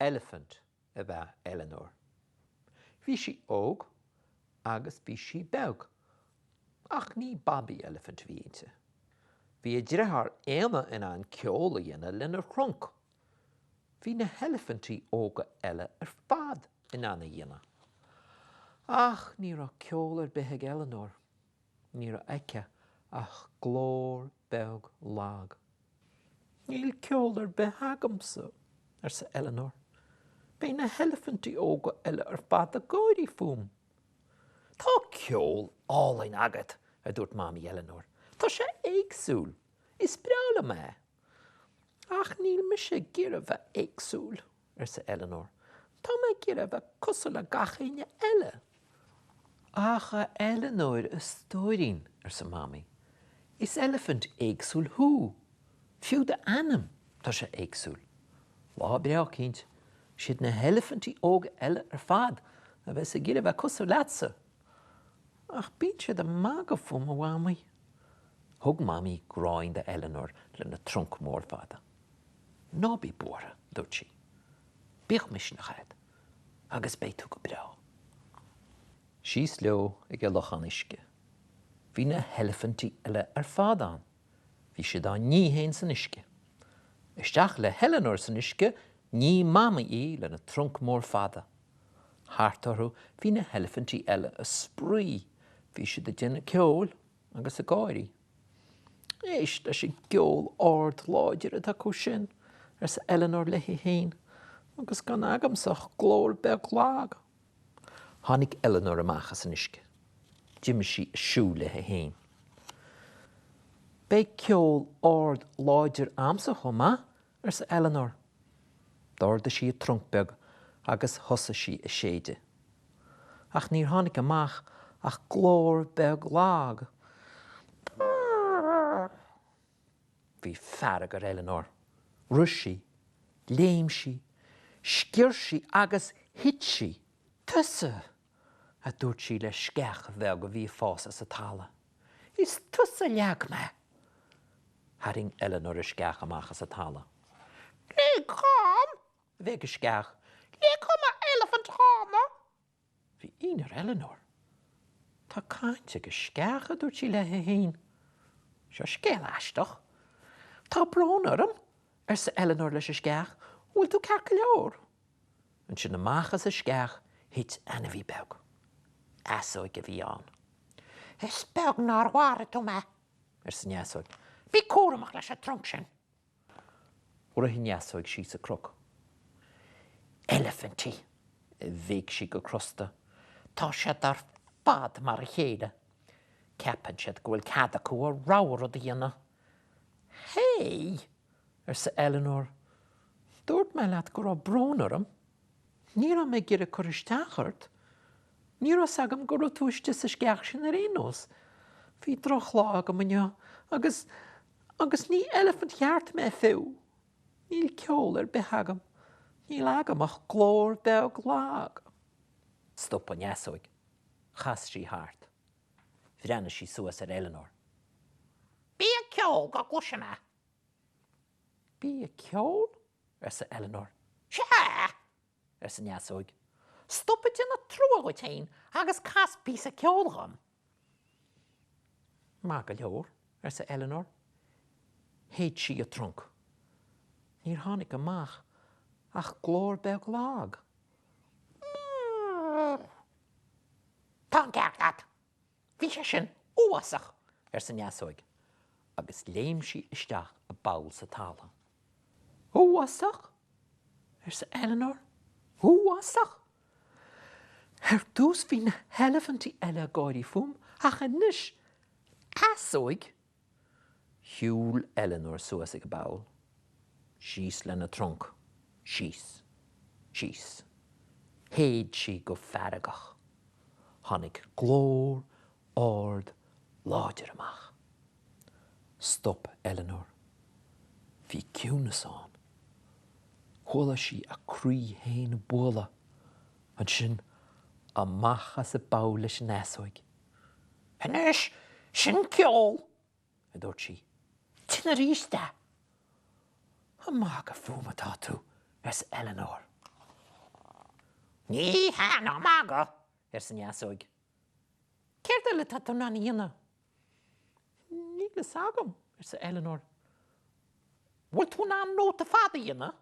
Eilifint ab ea Eleanor. Bhí sí óg agus bhí sí beag. Ach ní babaí eilifint a bhí inti. Bhí a driotháir Éanna in ann ceol a dhéanamh lena thrunc Bhí na heilifintí óga eile ar fad in ann é a dhéanamh. Ach ní raibh ceol ar bith ag Eleanor. Ní raibh aici ach glór beag lag. Níl ceol ar bith agamsa, arsa Eleanor. Beidh na heilifintí óga eile ar fad ag gáirí fúm. Tá ceol álainn agat! a dúirt Mamaí Eleanor. Tá sé éagsúil. Is breá liom é! Ach níl mise ag iarraidh a bheith éagsúil, arsa Eleanor. Tá mé ag iarraidh a bheith cosúil le 'chaon duine eile. Ach a Eleanor, a stóirín, arsa Mamaí, is eilifint éagsúil thú. Fiú d'ainm, tá sé éagsúil. Lá breá eicínt, siad na heilifintí óga eile ar fad a bheas ag iarraidh a bheith cosúil leatsa. Ach bíonn siad ag magadh fúm, a Mhamaí. Thug Mamaí gráin do Eleanor lena trunc mór fada. Ná bí buartha, dúirt sí. Bíodh misneach agat agus beidh tú go breá. Síos leo ag an lochán uisce. Bhí na heilifintí eile ar fad ann. Bhí siad á ní féin san uisce. Isteach le hEleanor san uisce, nigh Mamaí í lena trunc mór fada. Thart orthu bhí na heilifintí eile ag spraoi, bhí siad ag déanamh ceoil agus ag gáirí. Éist leis an gceol ard láidir atá acu sin, arsa Eleanor léi féin, agus gan agamsa ach glór beag lag. Tháinig Eleanor amach as an uisce. D'imigh sí ag siúl léi féin. Beidh ceol ard láidir agamsa chomh maith, arsa Eleanor. D'ardaigh sí a trunc beag agus thosaigh sí ag séideadh. Ach níor tháinig amach ach glór beag lag. Brrrr! Bhí fearg ar Eleanor. Rith sí, léim sí, sciorr sí agus thit sí! Tusa! a dúirt sí le sceach bheag a bhí ag fás as an talamh. Is tusa a leag mé! Tharraing Eleanor an sceach amach as an talamh. Lig dhom! a bhéic an sceach. Lig dhom a eilifint ghránna! Bhí ionadh ar Eleanor. Tá caint ag an sceach, a dúirt sí léi féin. Seo scéal aisteach. Tá brón orm, arsa Eleanor leis an sceach, an bhfuil tú ceart go leor? Ansin amach as an sceach thit ainmhí beag. Easóig a bhí ann. Is beag nár mharaigh tú mé! arsa an easóig. Bí cúramach leis an trunc sin! Rith an easóig síos an cnoc. Eilifintí! a bhéic sí go crosta. Tá siad ar fad mar a chéile! Ceapann siad go bhfuil cead acu a rogha rud a dhéanamh. Hé! arsa Eleanor. Dúirt mé leat go raibh brón orm. Ní raibh mé ag iarraidh cur isteach ort. Ní raibh fhios agam go raibh tú istigh sa sceach sin ar aon nós. Bhí drochlá agam inniu. Agus, agus ní eilifint cheart mé fiú. Níl ceol ar bith agam. Níl agam ach glór beag lag. Stop an easóig. Chas sí thart. Bhreathnaigh sí suas ar Eleanor. Bí ag ceol go gcloisfidh mé. Bí ag ceol? arsa Eleanor. Sea! arsa an easóig. Stop ag déanamh trua dhuit féin agus cas píosa ceoil dhom. Maith go leor, arsa Eleanor. Shéid sí a trunc. Níor tháinig amach ach glór beag lag. Tá an ceart agat! Bhí sé sin uafásach! arsa an easóig, agus léim sí isteach i bpoll sa talamh. Uafásach? arsa Eleanor. Uafásach? Ar dtús bhí na heilifintí eile ag gáirí fúm, ach anois easóig Shiúil Eleanor suas ag an bpoll, síos lena trunc, síos, síos. Shéid sí go feargach. Tháinig glór ard láidir amach. Stop Eleanor. Bhí ciúnas ann. Chuala sí a croí féin ag bualadh. Ansin, amach as an bpoll leis an easóig. Anois, sin ceol! a dúirt sí. Déan aríst é. Ag magadh fúm atá tú? arsa Eleanor. Ní hea, ná magadh! arsa an easóig. Céard eile atá tú in ann a dhéanamh? Níl fhios agam, arsa Eleanor. An bhfuil tú in ann nóta fada a dhéanamh?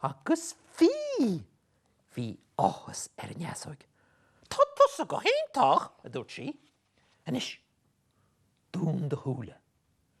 Agus bhí! Bhí áthas ar an easóig. Tá tusa go hiontach! a dúirt sí. Anois, dún do shúile.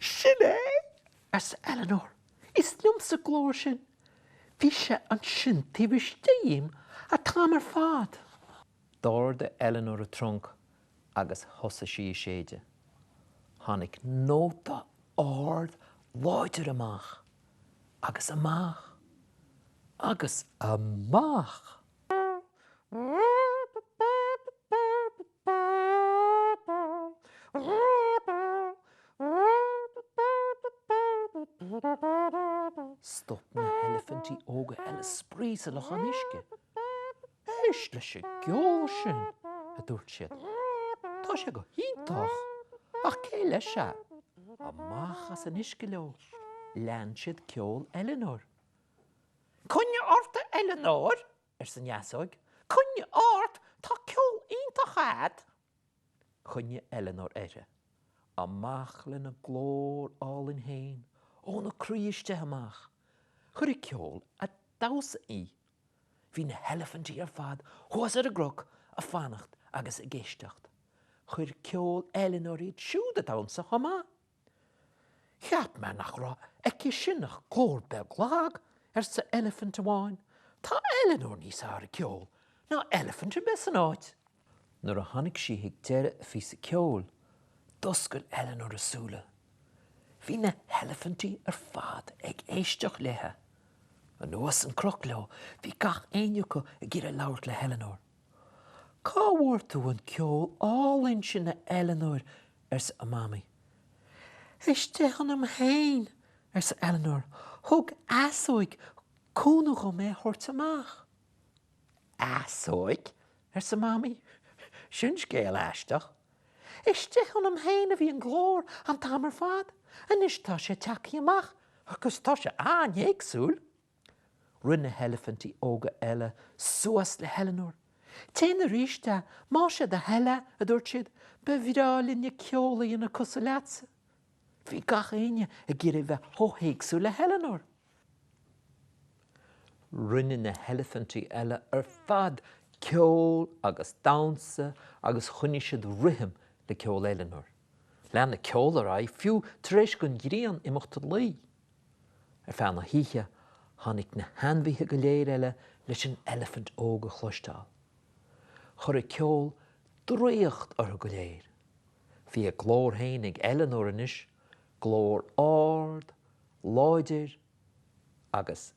Sin é! arsa Eleanor. Is liomsa glór sin. Bhí sé ansin taobh istigh dhíom a t-am ar fad. D'ardaigh Eleanor a trunc agus thosaigh sí a séideadh. Tháinig nóta ard láidir amach, agus amach, agus amach! Stop na heilifintí óga eile spraoi sa lochán uisce. Éist leis an gceol sin! a dúirt siad. Tá sé go hiontach! Ach cé leis é? Amach as an uisce leo. Lean siad ceol Eleanor. Coinnigh ort a Eileanóir, arsa Neasóig, coinnigh ort, tá ceol iontach agat! Choinnigh Eileanóir uirthi. Amach lena glór álainn féin, óna croí istigh amach. Chuir a ceol a damhsa í. Bhí na heilifintí ar fad thuas ar an gcroc a fanacht agus ag éisteacht. Chuir ceol Eileanóir iad siúd a damhsa chomh maith. Cheap mé nach raibh aici sin ach cór beag lag, arsa eilifint amháin. Tá Eleanor níos fhearr ceol ná eilifint ar bith san áit. Nuair a tháinig sí ag deireadh a phíosa ceoil, d'oscail Eleanor a súile. Bhí na heilifinti ar fad ag éisteacht léithe. Anuas an croc leo, bhí gach éinne acu ag iarraidh labhairt le hEleanor. Cá bhfuair tú an ceol álainn sin a Eileanóir arsa a mamaí. Istigh ionam féin arsa Eileanóir Thug easóig cúnamh dhom é a thabhairt amach. Easóig? arsa mamaí. Sin scéal aisteach. Istigh ionam féin a bhí an glór an t-am ar fad, anois tá sé ag teacht amach agus tá sé an-éagsúil. Rith na heilifintí óga eile suas le hEileanór. Téann arís, a, má sé do thoil, a, a dúirt siad, ba bhreá linne ceol a dhéanamh cosúil leatsa. Bhí gach éinne ag iarraidh a bheith chomh héagsúil le hEileanór. Rinne na heilifintí eile ar fad ceol agus damhsa agus choinnigh siad rithim le ceol Eileanór. Lean an ceol ar aghaidh fiú tar éis don ghrian imeacht a luí. Ar feadh na hoíche, tháinig na hainmhithe go léir, eile leis an eilifint óg a chloisteáil. Chuir a ceol draíocht orthu go léir. Bhí a glór féin ag Eleanor anois, glór ard, láidir agus